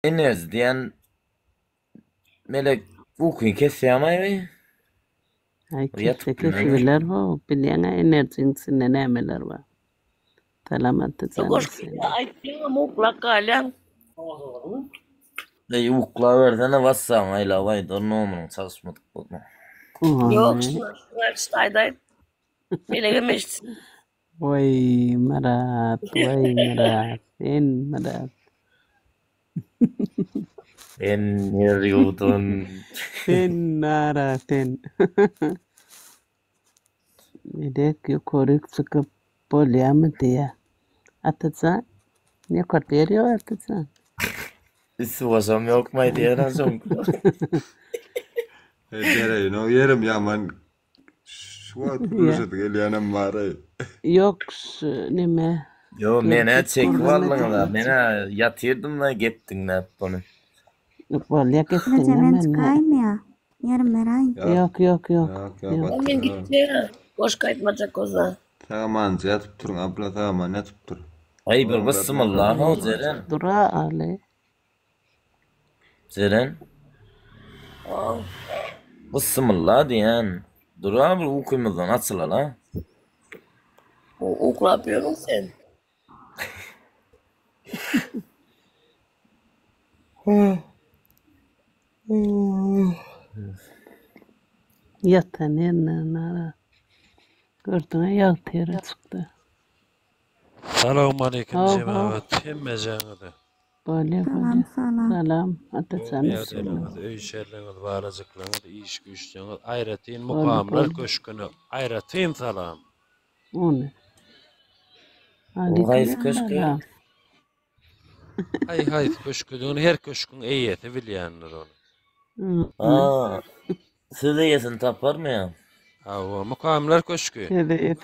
Enes diýen melek ukyny kesýärmi? Ay kesse kesi biler ho. Bilýäňä enerjin içinde nämeler bar. Salamat etsen. Aýtdyňam uklap galýaň. Ey ukla bersene WhatsApp aýla baý dur nomeryň çalyşmadyk bolma. Ýok, şuna şuna aýdaýt. Melege meşsin. Way Myrat way Myrat sen Myrat. Sen ner ýurdun. Sen nara sen. Medek ýokaryk çykyp bolýamy diýä. Atajan ýokarda ýer ýok atajan. Üstü başam ýokmaý diýen soň. Bereýin o ýerim ýaman Şu wagt gülüşesi gelýänem bar-aý. Ýok, neme. Ýo, men-ä çekip aldyňyz-a. Men-ä ýatyrdym-da gep diňläp muny. Ýok, bolýa gep diňläp. Haja, men çykaýynmy-ýa? Ýarym beraýyn. Ýok, ýok, ýok. Ýok, men gitjek-ä. Goş gaýtmajak bolsa. Sagamanyja ýatyp turuň, abla, sagaman ýatyp dur. Aý, bir bysymylla-haw, Jeren. Dur-a, Aly. Jeren Byssymylla diýen dura bir ukymyzdan açylala. O uklap ýörüň sen. Ýatan ýerinden nara. Gördüňä ýag teri çykdy. Salowmaleýkim jemagat hemmejaňyzy. Bolýa bolýa. Salam salam. Salam Atajan Dünýä üstün bolsun. geleniňiz, öý içerligiňiz, balajyklaryňyz, iş-güýçleriňiz, aýratyn Boldy, Mukamlar boldy. köşgüne aýratyn salam. Ony. Gaýys köşk ýa. Aleykumessalam. Haý haýsy köşküdigini her köşküň eýesi bilýändir ony. Ony. Aa. Söz eýesini taparmy ýa? Hawa, Mukamlar köşki. Hede et.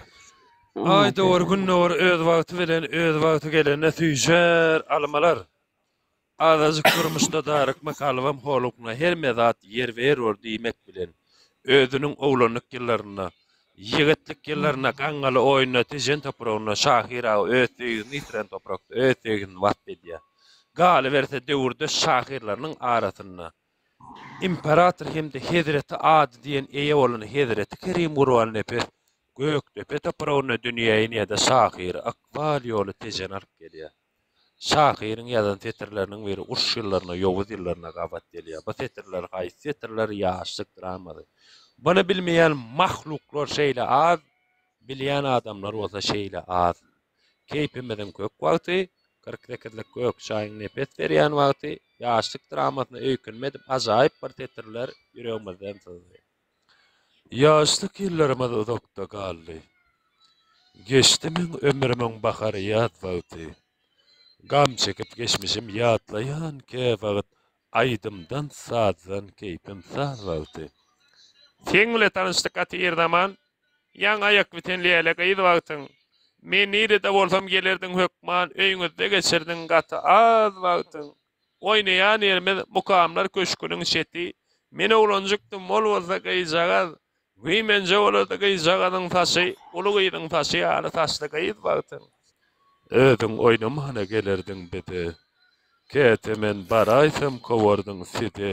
Aý dogry gün dogry öz wagty bilen öz wagty gelende süýşer almalar. Azajyk durmuşda darykma kalbym holugyna herme zat ýerbe-ýer bor diýmek bilen özüniň oglanlyk ýyllarynda, ýigitlik ýyllarynda gaňňaly oýunda Tejen topragynda şahyr aga öz söýgini ýitiren toprakda öz söýgini wasp edýär. Galyberse döwürdeş şahyrlarynyň arasynda. Imperator hem-de Hezreti Ady diýen eýe bolan Hezreti Kerim Gurbannepes Gökdepe topragynda dünýä inýär-de, şahyry ykbal ýoly Tejene alyp gelýär. Şahyryň ýazan setirleriniň biri uruş ýyllaryna, ýowuz ýyllaryna gabat gelýär. Bu setirler haýsy setirler? Ýaşlyk dramasy. Muny bilmeýän mahluklar şeýle az, bilýän adamlar bolsa şeýle az. Keýpimiziň kök wagty, Kyrk sekizlik gök çaýyň nepes berýän wagty, Ýaşlyk dramasyna öýkünme edip ajaýyp bir setirler ýüregimizden syzdy. Ýaşlyk ýyllarymyz uzakda galdy. Geçdi meň ömrümiň bahar-ýaz wagty. Gam çekip geçmişim ýatlaýan käwagt Aýdymdan sazdan keýpim saz boldy. Seň bile tanyşdyk gaty ir zaman Ýaňy aýak biten läle gyz wagtyň Men nirede bolsam gelerdiň hökman Öýňüzde geçirdiň gaty az wagtyň Oýnaýan ýerimiz Mukamlar köşgüniň çeti Men oglanjykdym ol bolsa gyzjagaz Wiý, menje bolardy gyzjagazyň saçy uly gyzyň saçy ýaly saçly gyz bagtyň. Özüň oýnamana gelerdiň bize. Käte men baraýsam kowardyň size.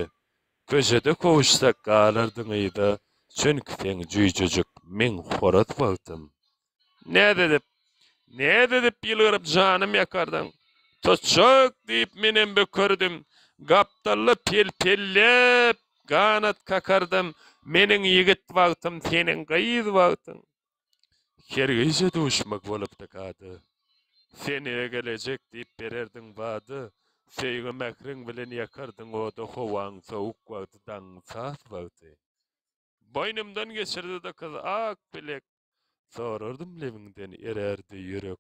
Köçede kowuşsak galardyň yza, çünki seň jüýjejik meň horaz bagtym. Näz edip, näz edip ýylgyryp janym ýakardyň. Tutjak diýip menem bökerdim. Gapdalla pel-pelläp ganat kakardym. Meniň ýigit wagtym, seniň gyz wagtyň. Her gije duşmak bolupdyk ady. Sen ýa gelejek diýip bererdiň wada. Söýgi-mähriň bilen ýakardyň ody. Howaň sowuk wagty, daňyň sas wagty. Boýnumdan geçirdi-de kyz ak bilek. Sorardym lebiňden erärdi ýürek.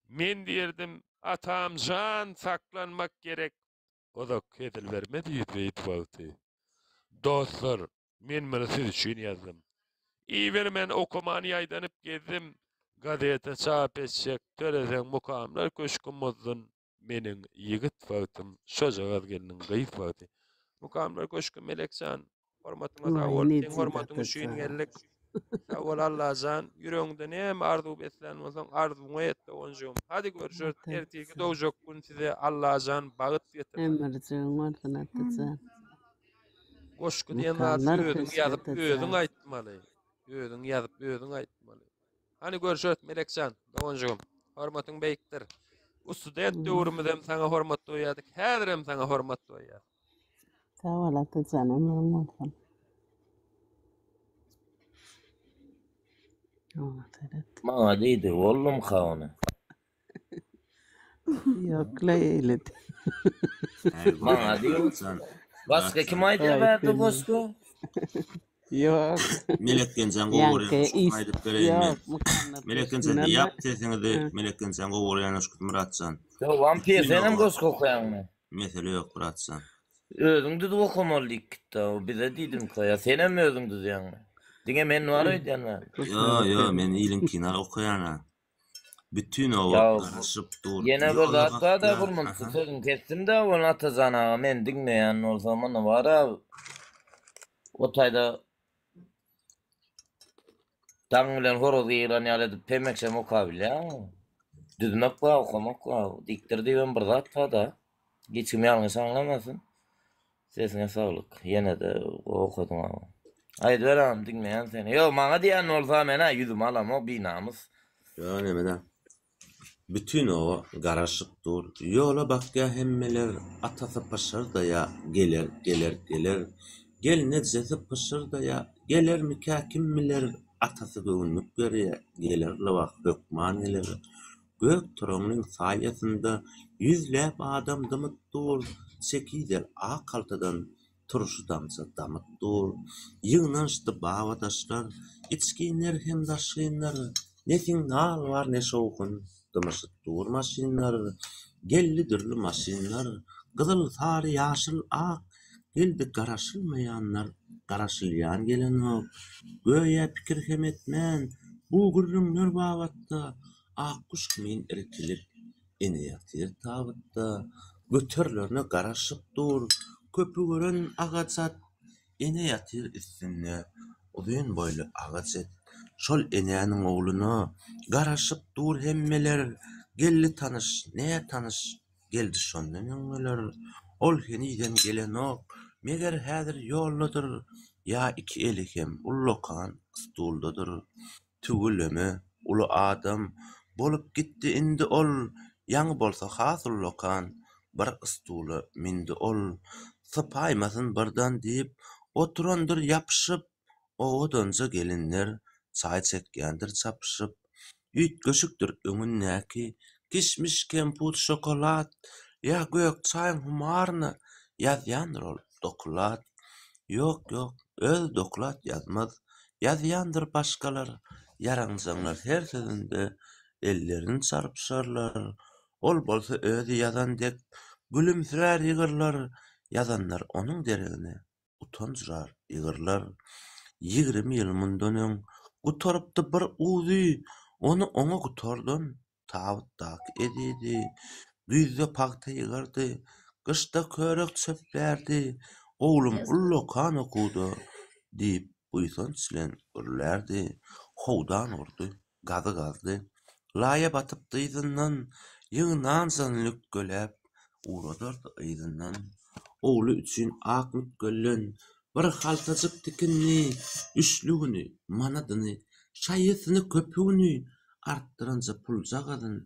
Men diýerdim, Atam jan, saklanmak gerek. Uzak hezil bermez ýüz beýt wagty. Dostlar, men muny siz üçin ýazdym. Ibermän, okaman ýaýdanyp gezdim. Gazete çap etjek, töleseň mukamlar köşki muzdun. Meniň ýigit wagtym şojagaz gelniň gyz wagty. Mukamlar köşki Melekjan. Hormatyňa sag bol. Seň hormatyň üçin geldik. Sag bol Allajan. Ýüregiňde näme arzuw beslän bolsaň arzuwyňy et doganjygym. Hadi görüşeris. Ertirki dogjak gün size Allajan bagyt getirsin. Ömürjüň bolsun Atajan. Goşgy diýen zady özüň ýazyp özüň aýtmaly. Özüň ýazyp özüň aýtmaly. Hany görşet Melekjan doganjygym. Hormatyň beýikdir. Bu student döwrümüz hem saňa hormat doýýardyk. Häzir hem saňa hormat doýýar. Sag bol Atajan, ömrüň bolsun. Oňa seret. Maňa diýdi, ollum ha ony. Yok la eyledi. Maňa diýiň. Başga kim aýdýar bärde goşgy? Yok. Melek Genjan gowy görýän aýdyp bereýin men. Melek Genjan diýýap sesiňizi Melek Genjan gowy görýän öşküt Myratjan. Yo wampir senem goşgy okaýaňmy? Mesele ýok bratjan. Özüň düzüp okamaly diýip gitdi o bize diýdimka ýa senem özüň düzýäňmi? Diňe men bar öýdýän bar. Yo yo men iliňkini okaýan a. Bütin oba Ýa, garaşyp dur. Ýene bir Ýola zat bar-da bakýar. Gurmut, Aha. sözüňi kesdim-de owal Atajan aga, men diňleýän bolsam, indi bar-a, o taýda daň bilen horaz ýygran ýaly edip pemekşem okabilýäňmi? Düzmek bar, okamak bar. Dikdir diýibem bir zat bar-da. Hiç kim ýalňyş aňlamasyn. Sesiňe saglyk. Ýene-de gowy okadyň agam. Aýdyber agam diňleýän seni. Ýok maňa diýen bolsa men-ä ýüzümi alamok binamys. Ýok neme-de. Bütin oba garaşyp dur. Ýola bakýa hemmeler. Atasy pyşyrdaýa, Geler, geler, geler. Gelnejesi pyşyrdaýa, Gelermikä kim biler. Atasy göwünlik berýä, Geler lybas hökman geler. Gök toragynyň saýasynda ýüzläp adam dymyp dur, çekidel ak haltadan turşy-damja damyp dur. Ýygnanyşdy babadaşlar, içginler hem daşgynlar, ne signal bar, ne şowhun, dymyşyp dur maşynlar. Geldi dürli maşynlar, gyzyl, sary, ýaşyl, ak, Indi garaşylmaýanlar garaşylýan gelenok. Göýä pikir hem etmän, bu gürrüňler babatda Akguş kimin irkilip, ene ýatyr tabytda, göterilerine garaşyp dur. Köpi gören agaç at, ene ýatyr üstünde, uzyn boýly agaç it. Şol enäniň ogluna garaşyp dur hemmeler. Geldi tanyş, nätanyş Geldi şondan öň geler. Ol henizem gelenok. Meger häzir ýoldadyr. Ýa iki eli hem ullakan stuldadyr. Tüweleme, uly adam bolup gitdi indi ol. Ýaňy bolsa has ullakan bir stula mündi ol. Sypaýmasyn birdan diýip, oturandyr ýapyşyp. owadanja gelinler çaý çekýändir çapyşyp, üýtgeşikdir öňündäki kişmiş, kemput, şokolad ýa gök çaýyň humaryna ýazýandyr ol doklad. Ýok, ýok, özi doklad ýazmaz, ýazýandyr başgalar. Ýaranjaňlar her sözünde ellerini çarpyşarlar, ol bolsa özi ýazan dek gülümsirär ýygyrlar, ýazanlar onuň deregine. utanjrar, ýygyrlar. Ýigrimi ýyl mundan öň gutarypdy bir uzy, ony oňa gutardan, tabytdaky ezidi. Güýzde pagta ýygyrdy, gyşda körek çöplärdi, Oglum ullakan okuwda, diýip, buýsanç bilen gürlärdi. Howdan urdy. Gazy gazdy. Laýa batyp dyzyndan, Ýygy nanjan lükgeläp, Uradardy yzyndan. Ogly üçin ak mükgellen, Bir haltajyk tikindi, Üçlügini, manadyny, Şaýysyny, köpügini, Artdyranja puljagazyn,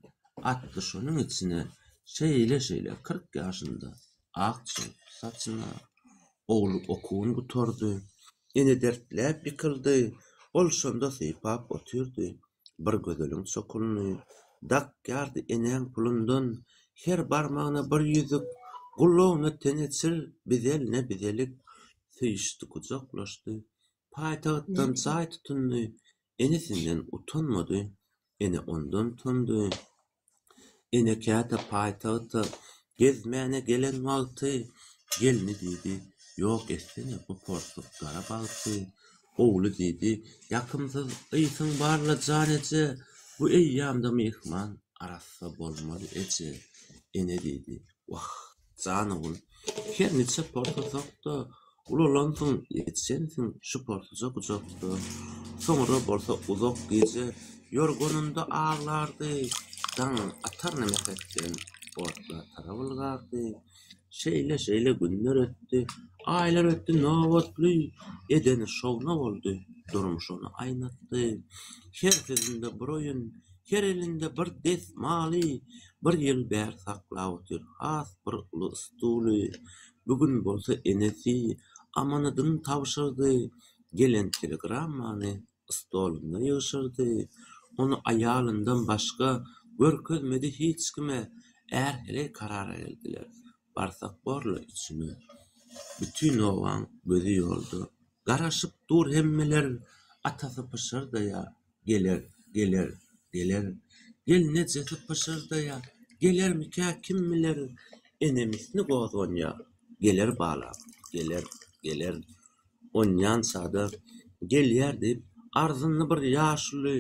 Atdy şonuň içine, Şeýle-şeýle kyrk ýaşynda. Ak çykyp saçyna. Ogly okuwyn gutardy. Ene dertläp ýykyldy. Ol şonda sypap otyrdy. Bir gözeliň çokunyny. Dakýardy enäň pulundan. Her barmagyna bir ýüzük. Gulagyna teňe çil, bizeline bizelik. Söýüşdi, gujaklaşdy. Paýtagtdan jaý tutundy. Enesinden utanmady. Ene ondan utandy. Ene käte paýtagta gezmäne gelen wagty gelni diýdi, Ýok etsene, bu porsuk gara bagty. Ogly diýdi, Ýakymsyz ysyň bar-la, jan eje, bu eýýamda myhman arassa bolmaz eje. Ene diýdi, Wah! Jan ogul, her niçe porsasak-da, ulalansyň, ýetişensiň şu porsaja gujak-da. Soňra bolsa uzak gije ýorganynda aglardy, daň ataryn mähetden otla tarap ylgardy. Şeýle-şeýle günler ötdi, aýlar ötdi, nobatly edeni şowna boldy, durmuş ony aýnatdy. Her sözünde bir oýun, Her elinde bir desmaly, bir ýyl bäri saklap otyr, has bir uly stuly. Bu gün bolsa enesi amanadyn tabşyrdy. Gelen telegrammany stolunda ýygşyrdy. Ony aýalyndan başga görkezmedi hiç kime. Är-heleý karara geldiler. Barsak bor-la içine. Bütin obaň gözi ýolda. Garaşyp dur hemmeler. Atasy pyşyrdaýar. Geler, geler, geler, Gelne jyhy pyşyrdaýar, Gelermikä, kim biler, Enemisni gozganýar. Geler balam, geler, geler, Onýan sada gelýär diýip, Arzyndy bir ýaşuly,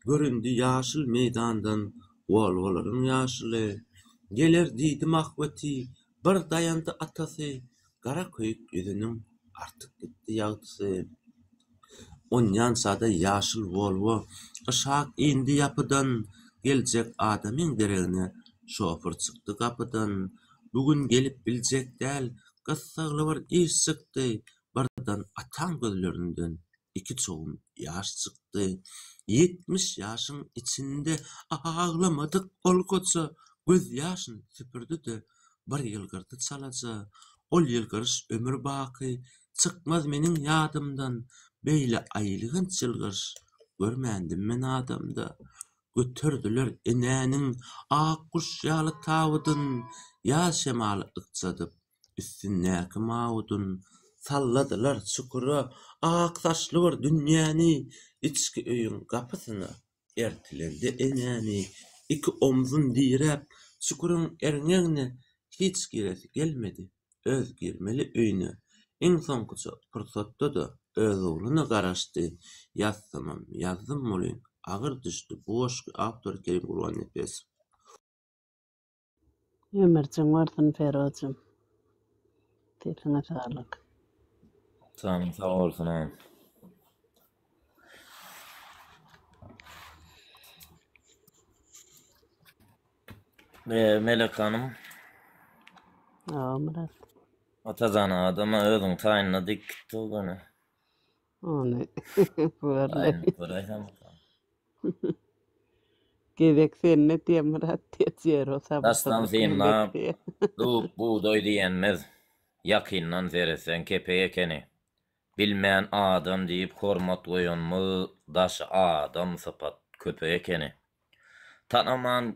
Göründi ýaşyl meýdandan, Wol-wolaryň ýaşuly. Geler diýdim ahbeti, Bir daýandy atasy, gara köýük ýüzüniň artyk gitdi ýagtysy. Onýan sada ýaşyl Wolwo yşak indi ýapydan, geljek adamyň deregine şofyr çykdy gapydan. Bu gün gelip biljek däl, gyssagly bir iş çykdy, Birden ataň gözlerinden iki çogum ýaş çykdy. Ýetmiş ýaşyň içinde aglamadyk ol goja gözýaşyny süpürdi-de, bir ýylgyrdy çalaja. Ol ýylgyryş ömür baky çykmaz meniň ýadymdan. Beýle aýylganç ýylgyryş görmändim men adamda. Göterdiler enäniň ak guş ýaly tabydyn, ýaz şemaly ykjadyp. Üstündäki mawudyn salladylar çukura, Ak saçly bir dünýäni içki öýüň gapysyna ertilende enäni, Iki omzun diräp, çukuryň erňegine hiç giresi gelmedi, Öz girmeli öýüne iň soňkuja pursatda-da öz ogluna garaşdy, Ýazsamam ýazdym welin, agyr düşdi bu goşgy, awtor Kerim Gurbannepesow. Ömürjüň bolsun Ferozjym. Sesiňe saglyk. Janyň sag bolsun agam. Ve Melek Hanım. Aa Murat. Atazan adama özün taýynla dik gitdi o Ony görle. Gezek sende diye Murat diye Jero Dastan synlap, dub, bugdaý diýenimiz ýakyndan seretseň kepek ekeni. Bilmän adam diýip hormat goýanymyz daşy adam sypat köpek ekeni. Tanaman.